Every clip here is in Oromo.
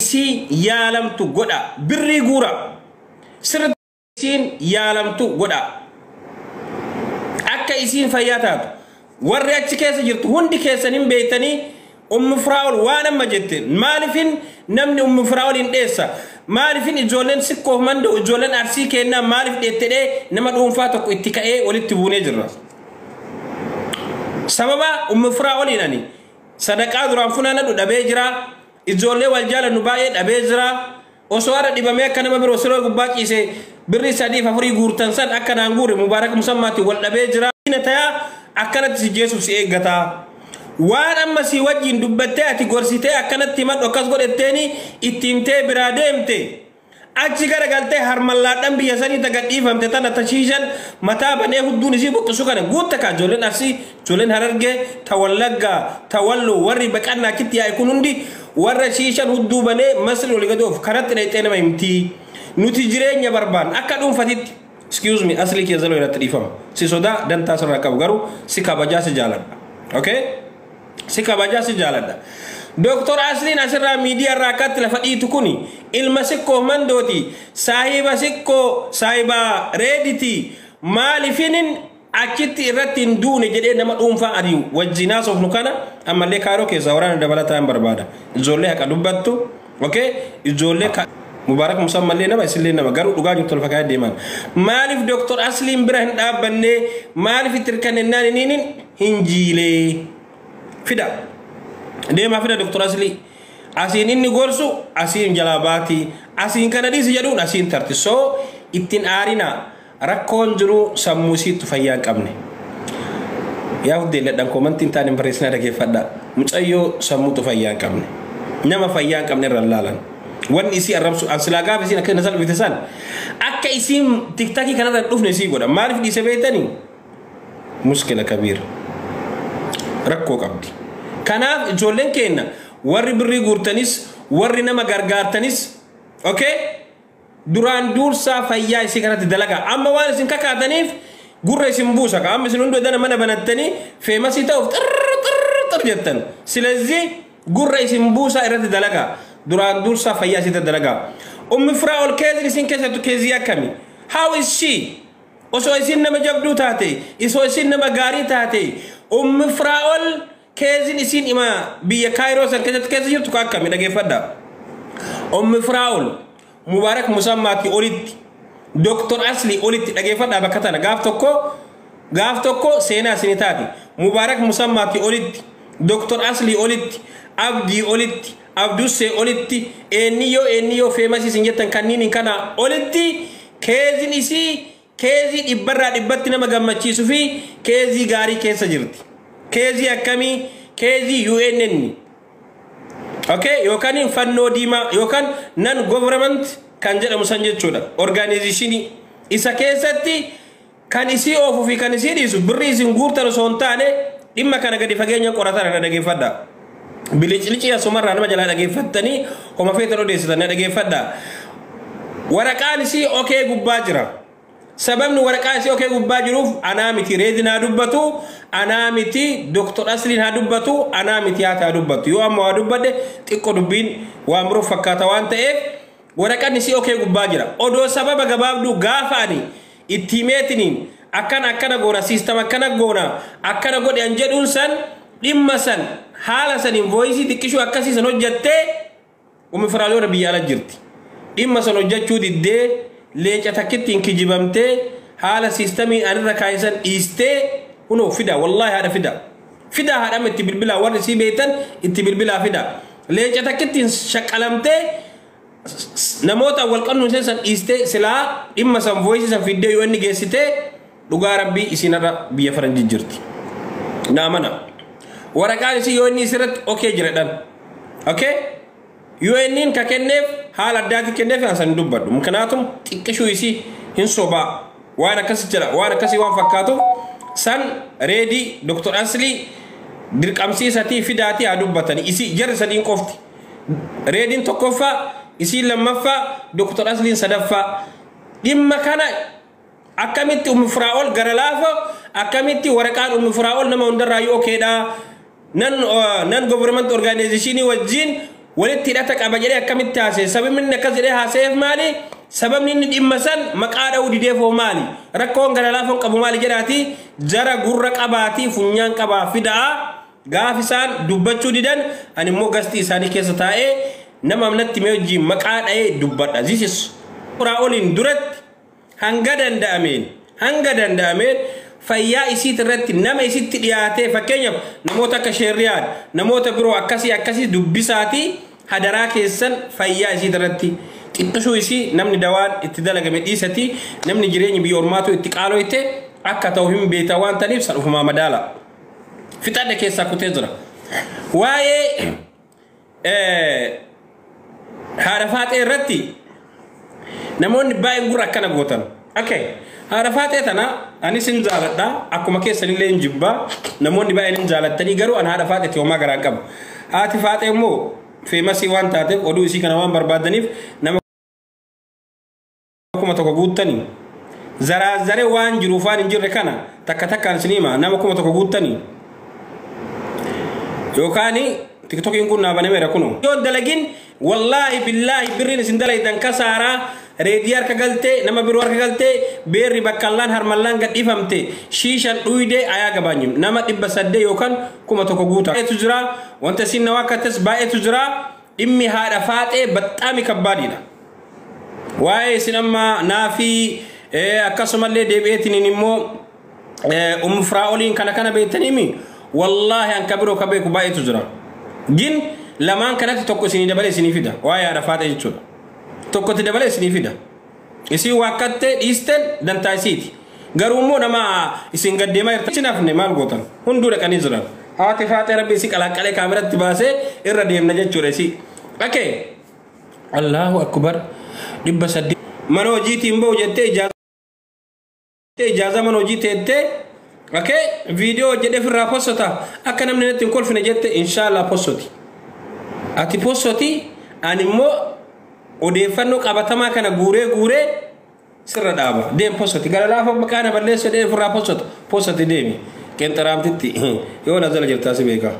isiin yaalamtu godhaa birrii guuraa sirritti isiin yaalamtu godhaa akka isiin fayyaa taatu warri achi keessa jirtu hundi keessan hin beektanii ummu firaa'ol waan amma jette maalifin namni ummu firaa'ol hin dheessa maalifin ijoolleen sikkoof manda'u ijoolleen arsii keennaa maalif dheettedhee nama dhuunfaa tokko itti ka'ee walitti buunee jirra. Sababa ummu firaa'oliin ani sadaqaa duraan funaanadhu dhabee jiraa Ijoollee wal jaalannu baay'ee dhabee jira. Osoo har'a dhibamee akka nama biroo siree gubbaa ciise birrii sadiif afurii guurtan san akka naan guure Mubaarak Musammaatiin wal dhabee jira. Diina tayaa akkanatti si jeesuuf si eeggata. Waan amma sii wajjiin dubbattee ati gorsitee akkanatti himadhu akkas godhetteeni itti himtee biraa deemte. Achi gara galtee harmallaadhan biyya sanii ta gadhiifamte tana ta shiishan mataa banee hudduun isii buqqisu kana guutta kaa ijoolleen Arsii, ijoolleen Harargee, ta Wallaggaa, ta Walloo warri baqannaa achitti yaa'e kun hundi warra shiishan hudduu banee Masrii oli gadi oofu karatti dhayxee nama himti. Nuti jireenya barbaanna akka dhuunfatitti. Excuse me aslii kiyya zaloo irratti dhiifama. Si sodaa dantaa sirraa qabu garuu si kabajaa si jaaladha. Okay? Si kabajaa si jaaladha. Doktor Asliin asirraa miidiyaa irraa akkatti lafa dhiitu kuni ilma sikkoo mandooti saahiba sikkoo saahiba reediti maalifinin achitti irratti hin duune jedhee nama dhuunfaa ani wajjin haasofnu kana ammallee kaayiroo keessaa waraana dabalataa hin barbaada. Ijoollee haqa dubbattu. Okay? Ijoollee ka Mubaarak Musaa mallee nama isillee nama garuu dhugaa jirtu lafa kaayee deemaan. Maaliif Dooktor Asliin bira hin dhaabbannee maaliif itti hirkannennaan iniin hin jiilee? Fida. Deemaa fida Dooktor Aslii. Asiin inni gorsu asiin jalaa baati. Asiin kana dhiisi jedhuun asiin tarti. So ittiin aarinaa. Rakkoon jiru sammuu isiittu fayyaa hin qabne. Yaa huddee ladhan koomantii hin taane hin barreessinaa dhageeffadha. Mucayyoo sammuutu fayyaa hin qabne. Nama fayyaa hin qabne irra hin laalan. Wanni isii arrabsu an silaa gaafa isiin akka na salphifte san akka isiin tiktakii kanarra hin dhufne isii godha. Maaliif dhiise beektanii? Muskila kabiira. Rakkoo qabdi. Kanaaf ijoolleen keenya warri birrii guurtanis warri nama gargaartanis okay? Duraan duursaa fayyaa isii kanatti dalagaa. Amma waan isin kakaataniif gurra isin buusa ka. Amma isin hunduu edana mana banattanii feemasii ta'uuf xirr xirr xirr jettan. Silezii gurra isin buusaa irratti dalagaa. Duraan duursaa fayyaa isii irratti dalagaa. Ummi firaa ol keezin isin keessattu keezii akkami? How is she? Osoo isin nama jabduu taate, osoo isin nama gaarii taate, ummi firaa ol Keezin isiin ima biyya Kaayiroo san keessatti keessa jirtu ka akkami dhageeffadha. Ommi Firaa'ol Mubaarak Musammaati olitti Doktor Asli olitti dhageeffadha bakka tana gaaf tokko gaaf tokko seenaa isini taati. Mubaarak Musammaati olitti Doktor Asli olitti Abdii olitti Abdussee olitti eenniyyoo eenniyyoo feemasii isin jettan kanniiniin kana olitti keezin isii Keezii dhibbarraa dhibbatti nama gammachiisu fi keezii gaarii keessa jirti. Keezii akkamii? Keezii UNN ok yookaan fannoo diimaa yookaan non government kan jedhamu san jechuudha. Orgaanizishinii isa keessatti kan isii oofu fi kan isii dhiisu birrii isin guurtan osoo hin taane dhimma kana gadi fageenyan qorataadha dhageeffadha. Biliclicii asumarraa nama jalaa dhageeffattanii homa feetan odeessitan na dhageeffadha. Waraqaan isii okee gubbaa jira. Sababni waraqaa isii okee gubbaa jiruuf anaa miti reedin haa dubbatu, anaa miti Dr. Asliin haa dubbatu, anaa miti haati haa dubbatu. Yoo amma waa dubbadhe xiqqo dubbiin waan biroo fakkaata waan ta'eef Woraqatni si okee gubbaa jira. Odoo sababa gabaabduu gaafa ani itti himeetiniin akkana akkana goona system akkana goona akkana godhi an jedhuun san dhimma san haala saniin voice xiqqishuu akkasii san hojjattee Ummi Firaaliyoona biyya ala jirti. Dhimma san hojjachuu diddee leenca takkittiin kijibamtee haala systemiin anirra kaa'e san dhiistee kunoo fida wallahi haadha fida. Fidaa haadhama itti bilbilaa warri isii beektan itti bilbilaa fidaa. Leenca takkittiin shaqqalamtee namoota wal qabnu isheen san dhiistee silaa dhimma san voice san fiddee yoo inni geessitee dhugaa rabbii isiin har'a biyya faranjii jirti. Naa mana. Waraqaan isii yoo inni isirratti okee jiradhan. Okay? UNn ka kenneef haala addaatiin kenneef an san hin dubbadhu mknaatum xiqqishuu isii hin sobaa waan akkasi jira waan akkasii waan fakkaatuuf san reedii Dr Aslii dirqamsiisatii fidaatii haa dubbatanii isii jarri sadiin qofti reediin tokkoffaa isiin lammaffaa Dr Asliin sadaffaa dhimma kana Akkamitti ummu firaa'ol gara laafa akkamitti waraqaan ummu firaa'ol nama hundarraayyuu okeedha nan nan government organization wajjin walitti hidhata qaba jedhee akkamitti haasa'e sababni inni akkas jedhee haasa'eef maali sababni inni dhimma san maqaa dha'uu dideef hoo maali rakkoon gara laafan qabu maali jedhaati jara gurra qabaatii funyaan qabaa fida'a gaaf isaan dubbachuu didan ani immoo gastii isaanii keessa taa'ee nama amnatti mee wajjin maqaa dha'ee dubbadha this is firaa'oliin duratti hanga danda'ameen hanga danda'ameen fayyaa isiit irratti nama isitti dhiyaatee fakkeenyaaf namoota akka sheerriyaan namoota biroo akkasii akkasii dubbisaatii hadaraa keessan fayyaa isiit irratti xiqqisuu isii namni dawaan itti dalagame dhiisatii namni jireenyi biyya ormaatu itti qaaloyte akka ta'u hin beekta waan taniif san ufumaa madaala fixadhe keessaa kutee jira waa'ee haadha faaxee irratti namoonni baay'een gurra akkana gootan. Okay. Haadha faaxee tana anis hin jaaladha akkuma keessanillee hin jibba namoonni baay'een hin jaalattanii garuu an haadha faaxeetti homaa garaan qabu. Haati faaxee immoo feemasii waan taateef oduu isii kana waan barbaadaniif nama kuma tokko guuttanii zaraazzaree waan jiruuf waan hin jirre kana takka takkaan isin hima nama kuma tokko guuttanii yookaan tiktokiin kun naa banameera kunoo. Yoo dalagin wallaahi billaahi birriin isin dalaydan kasaaraa reedii harka galtee nama biroo harka galtee beerri baqqallaan harmallaan gadhiifamte shiishan dhuydee ayaa gabaanyu nama dhibba saddee yookaan kuma tokko guuta. Baay'eetu jira wanta isin na waakkattes baay'eetu jira Dhimmi haadha faaxee baxxaami kabbaadiidha. Waa'ee isin amma naafii akkasumallee deebi'eetiniin immoo ummu firaa'oliin kana kana beektaniimi wallaahi an kabiroo ka beeku baay'eetu jira. Gin lamaan kanatti tokko isinii dabalee isinii fida waa'ee haadha faaxee jechuudha. Tokkotti dabalee isinii fida. Isiin waakkattee dhiisten dantaa isiiti. Garuu immoo nama isin gad deemaa jirtan isin hafne maal gootan? Hunduu dhaqanii jiran. Haati faaxee rabbi isi qalaaqqalee kaameratti baasee irra deemna jechuudha isi. Ake. Allahu akkubar. Dhibba saddeet. Mana hojiitiin bahu jettee ijaa. Ijaaza mana hojii teettee okay viidiyoo hojjedhee ofirraa possota akka namni natti hin kolfine jette inshaallah possoti. Ati possoti ani immoo odeeffannoo qabatamaa kana guuree guuree sirra dhaaba deem possoti gara laafa maqaa na balleessa deem ofirraa possota possoti deemi qenxaraamtitti yoo na jala jirtaa si beekaa.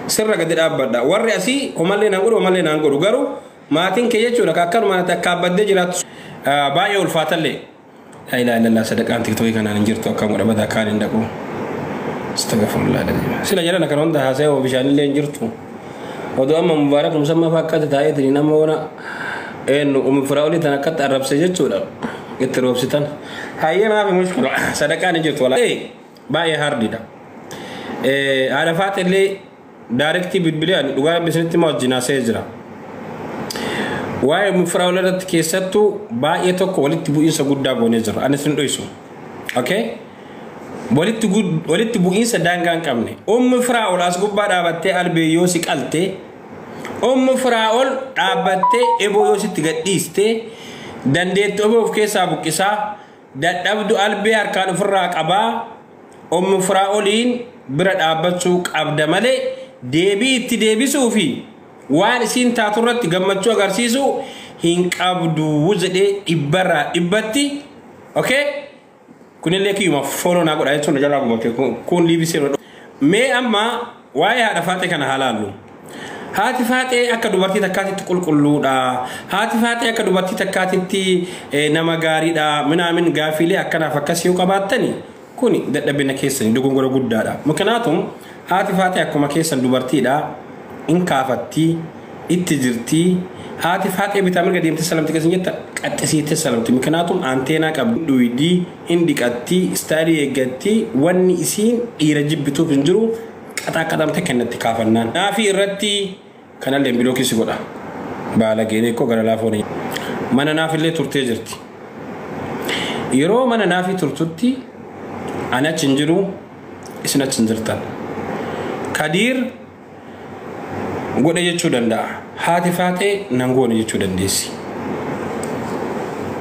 Sirra gadi dhaabbadha warri asii homallee naan godhu homallee naan godhu garuu maatiin kee jechuudha akkanuma ati akka abbaddee jiraattu baay'ee ulfaatallee. Laa ilaaha illallah sadaqaan tiktoki kanaan hin jirtu akka godha bada kaan hin dhaqu. Astagfirullah alazim. Sila jarana kana hunda haasa'e hoo bishaan illee hin jirtu. Odoo amma mubaarak musammaa fa'aa akkatti taa'eetiin nama ona eenyu umi firaa'olii tan akkatti arrabse jechuudha. Itti roobsitan. Hayyee maafi mushkila sadaqaan hin jirtu walaa. Baay'ee haardidha. Haadha faaxillee Daarektii bilbilee ani dhugaa rabbi isinitti himaa wajjin haasa'ee jira. Waa'ee mufiraawul irratti keessattuu baay'ee tokko walitti bu'iinsa guddaa goonee jirra. Ani isin dho'isu. Okay? Walitti, gud- walitti bu'iinsa daangaa hin qabne. Ummu firaa'ol as gubbaa dhaabattee albee yoo si qalte, ummu firaa'ol dhaabbattee eboo yoo sitti gadhiiste, dandeettu eboo of keessaa buqqisaa, Dadhabdu albee harkaan ofirraa qabaa Umm Firaa'oliin bira dhaabbachuu qabda malee deebii itti deebisuu fi waan isiin taatu irratti gammachuu agarsiisuu hin qabdu jedhee dhibbarraa dhibbatti okay kunillee kiyyuma follow naa godhaa jechuun na jalaa gubate kun kun liivisee mee amma Waa'ee haadha faaxee kana haa laallu. Haati faaxee akka dubartii takkaatitti qulqulluudha. Haati faaxee akka dubartii takkaatitti eh, nama gaariidha. Minaamin gaafiilee akkanaaf akkas yoo qabaattani kuni dadhabina keessani dogongora guddaadha. Mukinaatuun haati faaxee akkuma keessan dubartiidha. In kaafatti, itti jirti. Haati faaxee bitaa mirga deemtee salamti keessan jetta qaxxisiittee salamti. Mukinaatuun aanteenaa qabdi. Dhuydii. Hin dhiqatti, style eeggatti, wanni isiin dhiira jibbituuf hin jiru, qaxaaqqaxaan takka hin natti kaafannaan. Naafii irratti kanalleen bilookii si godha. Baalageen ikkoo gara laafoo ni. Mana naafillee turtee jirti. Yeroo mana naafii turtutti ani achi hin jiru, isin achi hin jirtan. Kadiir godhe jechuu danda'a. Haati faaxee nan goone jechuu dandeessi.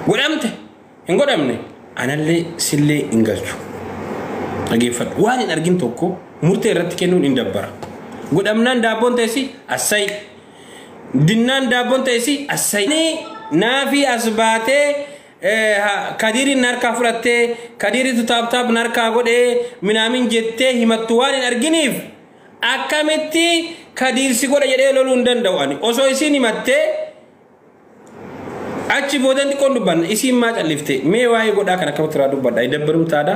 Godhamte! Hin godhamne anallee sillee hin galchu. Dhageeffadhu waan hin argin tokko murtee irratti kennuun hin dabbara. Godhamnaan daabboon ta'esi assayi. Dinnaan daabboon ta'esi assayi. Naafii as baatee kadiiriin harkaa fudhattee kadiiriitu taaptaap harkaa godhee minaamin jettee himattu waan hin arginiif akkamitti kadiirsi godha jedhee loluu hin danda'u ani osoo isiin himattee Achi boodan xiqqoon dubbanna isiin maa callifte mee waa'ee godhaa kan akkamitti irraa dubbadha idabbarum taada.